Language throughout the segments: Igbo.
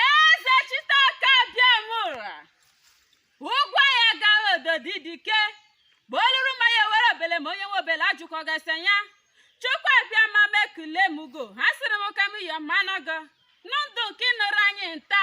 ezechitoke abiamụra ụgwọ ya gara ododi dike ma oluru ma ya were obele ma onye nwe obele ajụkọ gasị ya chukwu abịama mekule mugo ha sịrị m ka m yọ mmanụ gị n'ndụ nke ịnụrụ anyị nta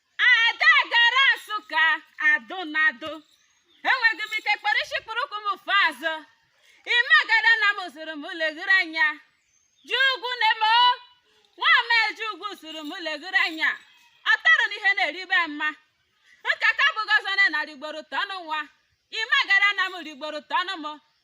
ada egara nsụka adụ na adụ enweghị m ike kpọrọ isi kpụrụ ụkwụ m fụ azụ ime agada na m zụrụ m leghere anya ji ugwu na-eme o nwa m eji ugwu zụrụ m leghere anya ọ tọrọ na ihe na-eribe mma nkata bụghị ọzọ na narị ugboro tọnụ nwa ime agada na m rigboro tọnụ m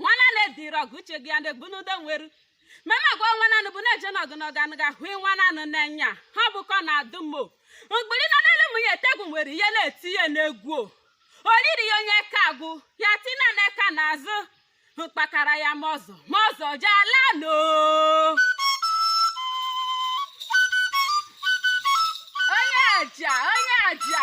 nwana na-ediri ọgụ uche gị ya na-egbu n'udo nweru mema gwa nwa nanụ bụ na-eje n'ọgụ n'ọgụ anụ ga-ahụ nwa nanụ n'enya ha bụkọ na adụ mo mgbiri na n'elu m ya etegwu nwere ihe na-eti ya n'egwu o oriri ya onye ka agwụ ya tina na eka n'azụ mkpakara ya ma ọzọ ma ọzọ jee ala no onye aja onye aja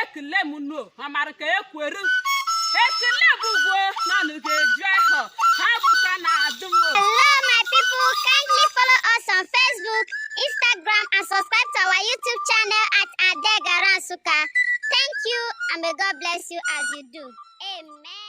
ekele m unu amara ka ekwere ekele bụ ụgwọ na nụ ga-eju ahụ ha bụ ka na-adụ m Hello, my people. Kindly follow us on Facebook, Instagram, and subscribe to our YouTube channel at Ada Egara Nsukka. Thank you, and may God bless you as you do. Amen.